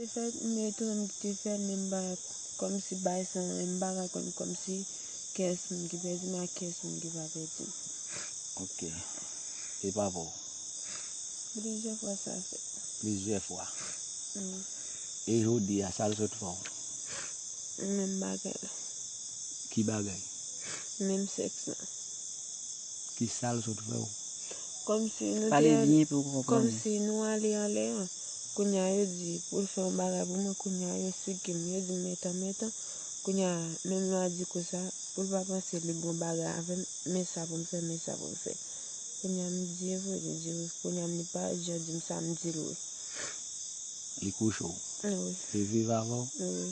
Se fèt m etonn m kite fèl men m pa kòmsi bay san m m pa ka konn kòmsi kès moun ki pèdi m ak kès moun ki pa pèdi m. Ok. E papa w? Plizyè fwa sa fèt. Plizyè fwa? Wi. E jodi a sa l sot fè w? Menm bagay la. Ki bagay? Menm sèks la. Kisa l sot fè w? Kòmsi nou te al. Pale byen pou yo konprann. Kòmsi nou ale anlè an. Kounya yo di poul fè yon bagay pou mwen kounya yo sikim yo dim etan etan kounya menm lwa di konsa poul pa panse li bon bagay avèm men sa poum fè men sa poum fè kounya m di evre li di wi kounya li pa jan dim sa m dil wi. Li kouche w? Wi. Li viv avè w? Wi.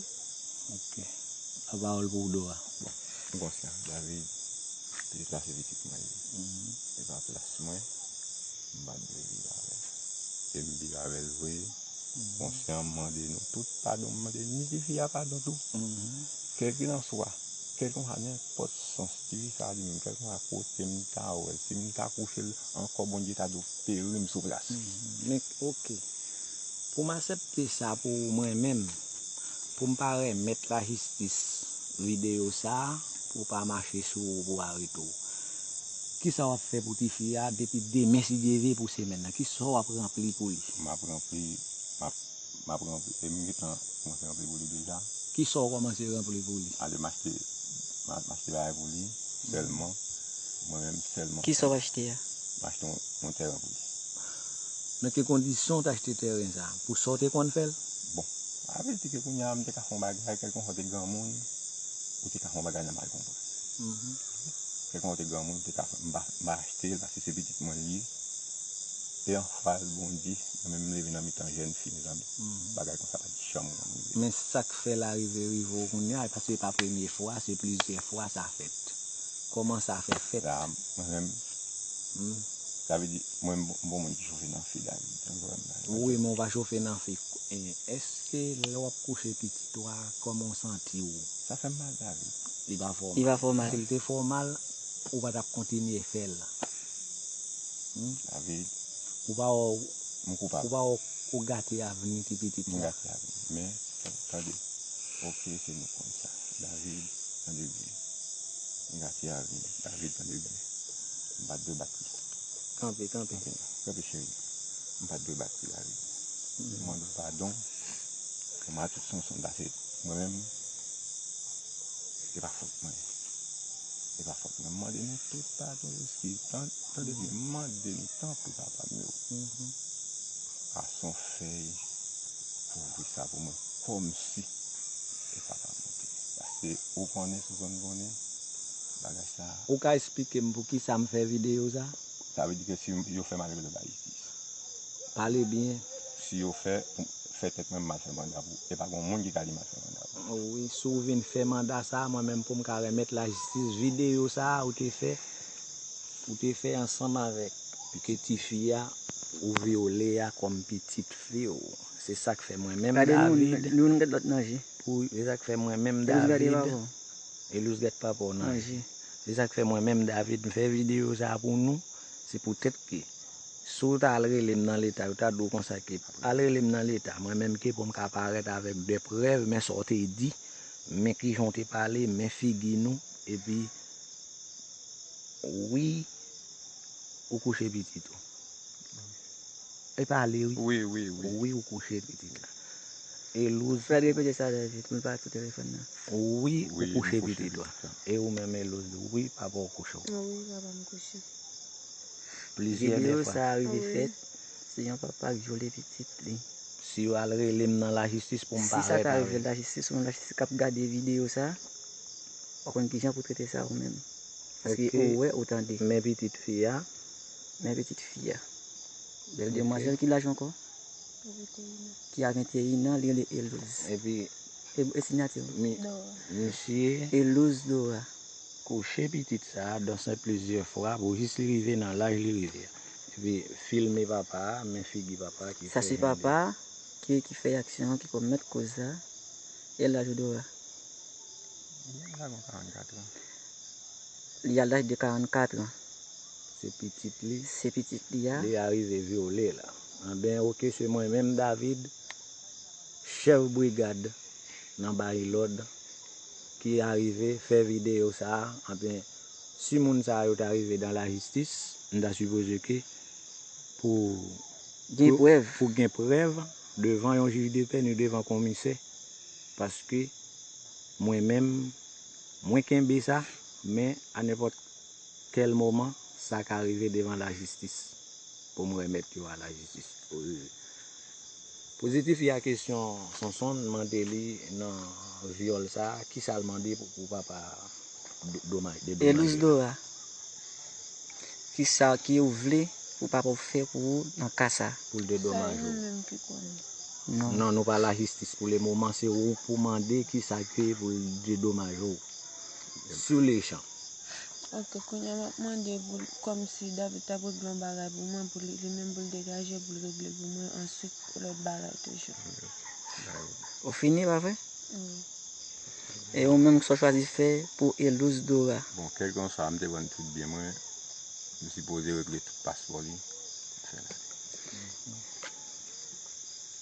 Ok. La pawòl pou Dô a. Bon. M konsyan David te deplase pitit mwen li. Li pa plas mwen. M pat vle viv avèl. Ke m viv avèl vre, konsyan m mande nou tout padon, m mande ni ti fi a padon tou. Kèlkilanswa, kèlkilanswa nenpòt sans ti fi sa a li menm, kèlkilanswa kote m ta wè l, si m ta kouche l ankò Bondye ta dwe peri m sou plas. Men ok, pou m asèpte sa pou m renmen m, pou m pa renmèt lajistis videyo sa a pou pa mache sou ou pou arete w. Kisa wap fè pou tifi a depi demen si Dye ve pou semèn nan kisa wap ranpli pou li. Map ranpli map map ranpli em gentan kòmanse ranpli pou li deja. Kisa w kòmanse ranpli pou li. Alem achte map achte bagay pou li sèlman mwen menm sèlman. Kisa wap achte a. Map achte yon tèren pou li. Nan ki kondisyon ou t achte tèren sa pou sa ou te konn fèl. Bon sa vle di ke kounya m te ka fè yon bagay kèlkonfwa ou te granmoun ou te ka fè yon bagay nan mal konprann. Kèk mwa ou te granmoun, ou te ka fè m pa achte l paske se pitit mwen li ye. E yon fwa l bondi, mwen menm m leve nan mitan jèn fi mezanmi. Bagay konsa pa t janm konn rive m. Men sa k fè l arive rive w kounya e paske e pa premye fwa, se plizyè fwa sa fèt. Kòman sa fè fèt? Sa mwen menm, sa vle di mwen m bon moun ki chofe nan fi la wi, tankou wè m la. Wi men ou pa chofe nan fi. Èske lè w ap kouche pitit ou a, kòman w santi w? Sa fè m mal la wi. Li pa fè w mal. Si l te fè w mal, ou pa t ap kontinye fè l. Ou pa wè m koupab. Ou pa wè ou gate avni ti pitit la. M gate avni. Men, tande. Ok, se nou konn sa. David, tande byen. M gate avni. David, tande byen. M pa t dwe bat li. Kanpe, kanpe. Kanpe, cheri. M pa t dwe bat li, David. M mande w padon. Kè m a tout Sonson. Dase. Mwen menm, e pa fòt mwen. E pa fòt mwen. M mande nou tout padon, eskiz. Tande byen, m mande nou tanpri papa m yo. Pase yon fèy pou ouvri sa pou mwen kòmsi e pa pa mwen te. Paske ou konnen Souzan m konnen bagay sa a. Ou ka esplike m pou kisa m fè videyo sa a? Sa vle di ke si yo fè malere lòt Ayiti. Pale byen. Si yo fè pou. fè tèt mwen mal fè manda pou e pa gon moun ki ka di mal fè manda pou. Oh wi si w vin fè manda sa mwen menm pou m ka remèt lajistis videyo sa ou te fè ou te fè ansanm avèk ke ti fi a ou vyole a kòm pitit fi w se sak fè mwen menm David pou se sak fè mwen menm David Elouse gad papa w nan je se sak fè mwen menm David m fè videyo sa pou nou. Se poutèt ke si w ta al rele m nan leta, yo ta di w konsa ke, al rele m nan leta, mwen menm ke pou m ka parèt avèk de prèv, men sa w te di, men kijan w te pale, men figi nou, epi, wi, ou kouche pitit ou. Li pale wi. Wi wi wi. Wi ou kouche pitit la. Elouse. Fred repete sa trè vit men pa sou telefòn nan. Wi ou kouche pitit la. E ou menm Elouse. Wi papa ou kouche w. Wi papa m kouche. Plizyè de fwa. Video sa rive fèt. Si yon papa k vyole pitit li. Si yo al rele m nan lajistis pou m parèt avèl. Si sa ta rive lajistis ou menm lajistis k ap gade video sa. Wap konn kijan pou trete sa ou menm. Paske ou wè ou tande. Men pitit fi a. Men pitit fi a. Bèl demwazèl ki laj ankò? Ki a 21 an, li rele Elouz. Epi. E sinyati ou? Mi. Dora. Misye. Elouz Dora. Kouche pitit sa a dansen plizyè fwa pou jis li rive nan laj li rive a. Epi filme papa a, men figi papa a ki fè. Sa se papa a ki fè aksyon an, ki komèt koz sa. E laj ou Dora? Li a laj de 44 an. Se pitit li. Se pitit li a. Li arive vyole la. Anben oke se mwen menm David, chèf brigad nan Barilòd ki arive fè videyo sa a. Anben si moun sa yo ta rive dan lajistis, m ta sipoze ke pou Gen prèv. Pou gen prèv devan yon jij de pè ni devan konmisè paske mwen menm mwen kenbe sa men a nenpòt. Kel moman sa ka rive devan la jistis pou m remet yo a la jistis pou rive. Pozitif ya kesyon Sonsonn mande li nan vyol sa kisa l mande pou papa domaj de domaj yo. Elisdora kisa ki ou vle pou papa ou fe pou ou nan ka sa. Pou l de domaj yo. Sa e nou menm ki konnen. Non. Non nou pa la jistis pou le moman se ou pou mande kisa ke pou l de domaj yo. Sou le chan. Ok kounya map mande pou kòmsi David tap regle yon bagay pou mwen pou li menm poul degaje poul regle pou mwen answit lòt bagay toujou. Ou fini la vre? Wi. E ou menm kisa ou chwazi fè pou Elouse Dora? Bon kèlkanswa mte vann tout byen mwen, m sipoze regle tout paspò li, m fè l ale.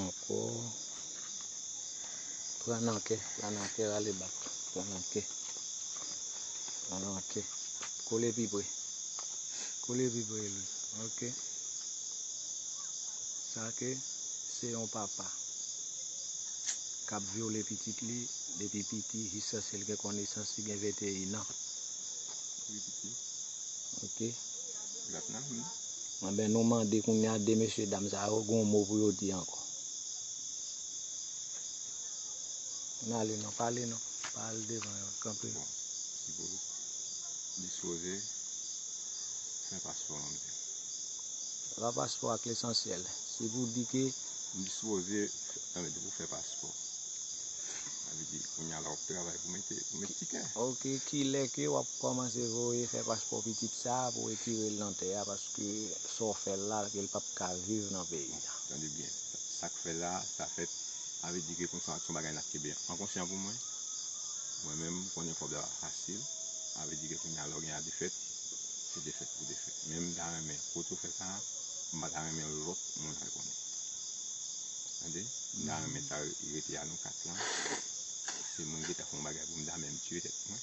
Ankò Pran nan kè Pran nan kè Rale bak Pran nan kè Pran nan kè Kole pi pre Kole pi pre li Ok Sa ke Se yon papa K ap vyole pitit li Depi piti Jiskaske l gen konesans Li gen 21 an Ok. Anben nou mande kounya 2 mesye dam sa yo gon mo pou yo di ankò. Ann ale non, pa ale non, pa al devan yo, kanpe. Bon, si pou dispoze, fè paspò an mwen. Se pa paspò ak lesansyèl, si pou di ke. M dispoze, anben depi w fè paspò, sa vle di kounya la w ap travay pou mete, pou met tikè. Ok, kilè ke w ap. Kòmanse voye fè paspò pitit sa pou retirel nan tè a paske sa w fèl la kel pap ka viv nan peyi a. Tande byen sak fè la sa fèt avè di ke konsa son bagay nap kenbe an konsyan pou mwen mwen menm m konnen kob la pa fasil avè di ke kounya lè w gen a defèt se defèt pou defèt men m ta renmen kote w fè sa m pa ta renmen lòt moun al konnen tande m ta renmen sa rete a nou 4 lan se mwen ki ta fè yon bagay pou m ta menm tiye tèt mwen.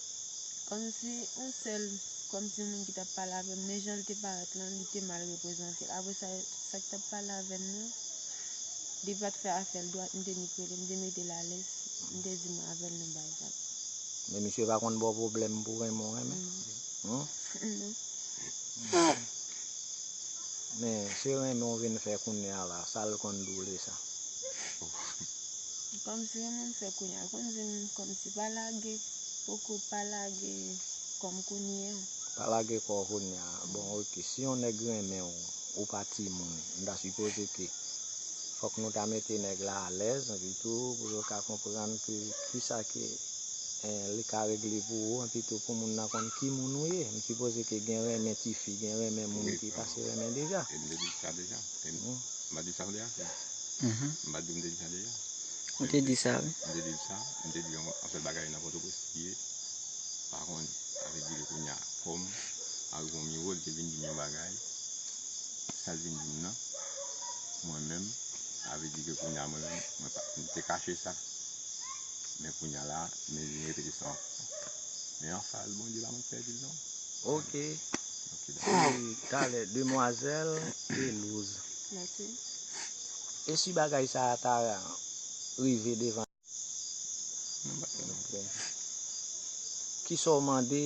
Kòmsi yon sèl, kòmsi moun ki t ap pale avè m, men jan l te parèt lan, li te mal reprezante. Apre sa, sa k t ap pale avè m nan, li pa t fè afè l dwat, m te nik rele, m te mete l alèz, m te di mwen avè l nan bay vag. Men misye pa konn ba w pwoblèm pou renmen w renmen? Non. Men, se renmen w vin fè kounye a la, sa l konn di w lè sa? Kòmsi yon moun fè kounye a konn dim kòmsi pa lage poko pa lage kòm kounye a. Pa lage kò w kounye a bon ok si yon nèg renmen w ou pa timoun m ta sipoze ke fòk nou ta mete nèg la alèz epi tou pou yo ka konprann ke kisa ke li ka regle pou ou epi tou pou moun nan konn ki moun ou ye m sipoze ke gen renmen tifi gen renmen moun ki pase renmen deja. E non, m pa di sa m vle a sa. M pa di m te di sa deja. Ou te di sa wi. M te di l sa, m te di l yon sèl bagay nan Pòtoprens li ye, pa konn avè di l kounye a kòm arive yon nivo li te vin di m yon bagay, sa l vin di m nan, mwen menm sa vle di ke kounye a mwen menm mwen pa, m te kache sa. Men kounye a la, m vin repete sa ankò. Men anfas Bondye la mwen p pèdi l non. Ok. Depi talè demwazèl pelouz. Esi bagay sa a ta rive devan. Kisa w mande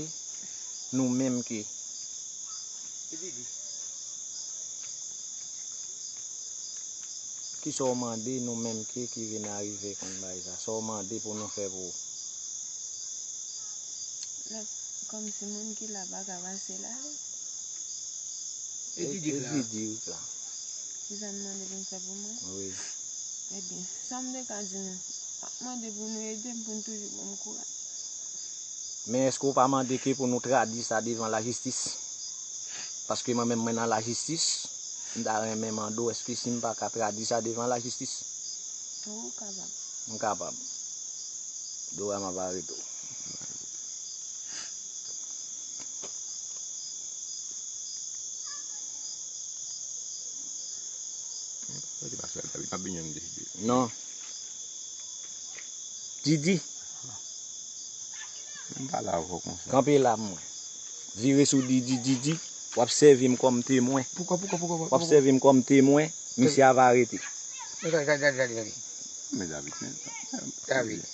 nou menm ke. Kisa w mande nou menm ke ki vin arive konn bagay sa. Sa w mande pou nou fè pou ou. Lap kòm si moun ki la pa ka pase la wi. E Didi k la? E Didi k la? Kisa n mande pou n fè pou mwen? Wi. Ebyen, sa m te ka di nou, map mande pou nou ede m pou n toujou ban m kouraj. Men èske ou pa mande ke pou nou tradui sa devan lajistis? Paske mwen menm mwen nan lajistis, m ta renmen mande ou èske si m pa ka tradui sa devan lajistis? Ou kapab. M kapab. Dora m ap are tou. Non. Didi. Kanpe la mwen. Vire sou Didi, Didi. Wap sèvi m kòm temwen. Poukò, poukò, poukò, poukò. Wap sèvi m kòm temwen. Misye a va arete. Gade, gade, gade, gade. Mè David, mè David.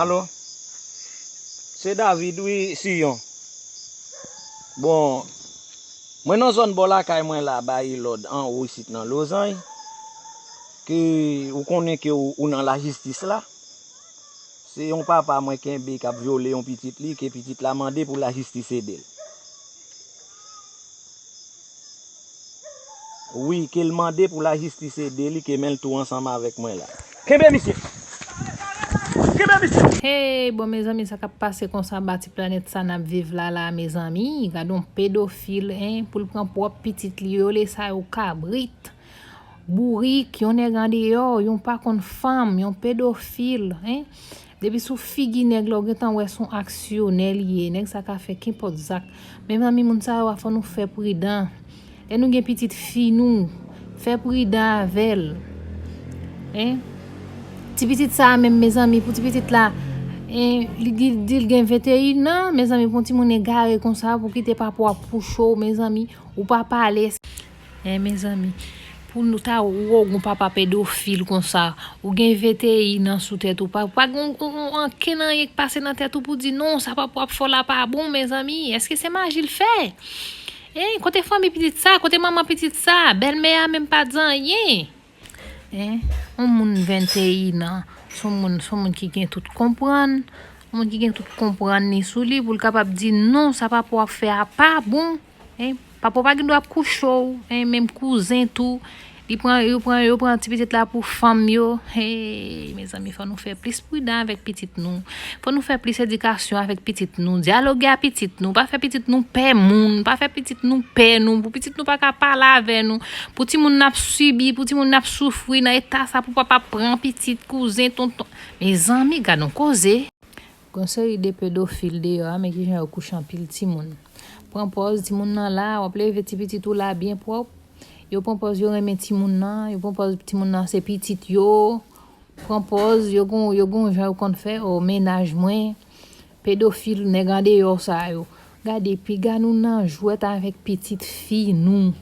Alo Se David wi Siyon Bon Mwen nan zòn bò lakay mwen la bay lòd anwo isit nan Lozany ke ou konnen ke ou nan lajistis la Se yon papa mwen kenbe kap vyole yon pitit li ke pitit la mande pou lajistis edel. Wi ke l mande pou lajistis ede li ke men l tou ansanm avèk mwen la. Kenbe misye! Kenbe misye! Hey bon mezanmi sa kap pase konsa ba ti planèt sa nap viv la la mezanmi gadon pedofil hein poul pran prop pitit li yo le sa yo kabrit bourik yon nèg andeyò yon pa konn fanm yon pedofil hein. Depi sou figi nèg la ou gentan wè son aksyonè li ye nèg sa ka fè kenpòt zak mezanmi moun sa yo a fò nou fè pridan lè nou gen pitit fi nou fè pridan avèl hein ti pitit sa menm mezanmi pou ti pitit la hein li dil gen 21 ans mezanmi pou yon timoun egare konsa pou kite papa wap pou chou mezanmi ou pa pale Eh mezanmi pou nou ta wou gon papa pedofil konsa ou gen vti nan sou tèt ou pa pa gon gon anken nan yek pase nan tèt ou pou di non sa papa wap fò la pa bon mezanmi eske se maji l fè eh kote fanmi pitit sa kote manman pitit sa bèlmè a menm pat di anyen. Hein on moun 21 ans son moun son moun ki gen tout konprann on moun ki gen tout konprann li sou li pou l kapab di non sa papa w ap fè a pa bon hein papa w pa gen dwa ap kouche w hein menm kouzen tou li pran yo pran yo pran ti pitit la pou fanm yo hee mezanmi fò nou fè plis pridan avèk pitit nou. Fò nou fè plis edikasyon avèk pitit nou, dyaloge a pitit nou, pa fè pitit nou pè moun, pa fè pitit nou pè nou, pou pitit nou pa ka pale avè nou, pou timoun nou ap sibi, pou timoun nou ap soufri nan eta sa pou papa pran pitit, kouzen, tonton. Mezanmi gad on koze! Gon seri de pedofil deyò a men kijan yo kouche anpil timoun. Pran pòz timoun nan la, wap leve ti pitit ou la byen pwòp, yo pran pòz yo renmen timoun nan, yo pran pòz timoun nan se pitit yo. Pran pòz yo gon yo gon jan yo konn fè oh mennaj mwen pedofil nèg andeyò sa yo gade piga nou nan jwèt avèk pitit fi nou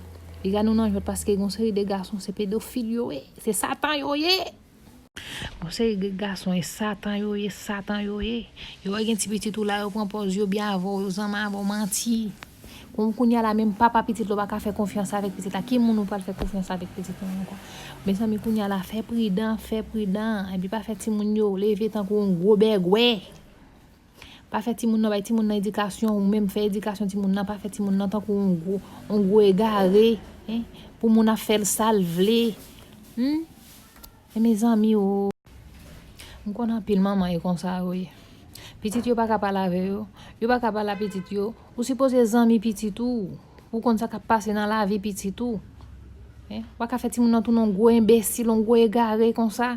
piga nou nan jwèt paske gon seri de gason se pedofil yo ye se satan yo ye gon seri de gason e satan yo ye satan yo ye yo wè gen ti pitit ou la yo pran pòz yo byen avèw yo zanman avèw manti. Bon kounya la menm papa pitit la ou pa ka fè konfyans avèk pitit la, ki moun ou pral fè konfyans avèk pitit lan ankò? Mezanmi kounya la fè pridan, fè pridan, epi pa fè timoun yo leve tankou yon gwo bègwè, pa fè timoun nan, bay timoun nan edikasyon, ou menm fè edikasyon timoun nan, pa fè timoun nan tankou yon gwo, yon gwo egare, pou moun ap fèl sal vle, humm. E mezanmi oo. M konn anpil manman e konsa yo ye. Pitit yo paka pale avè yo, yo paka pale a pitit yo, ou sipoze zanmi pitit ou, pou konn sa kap pase nan lavi pitit ou. Waka fè timoun nan tounen yon gwo enbesil, yon gwo egare konsa.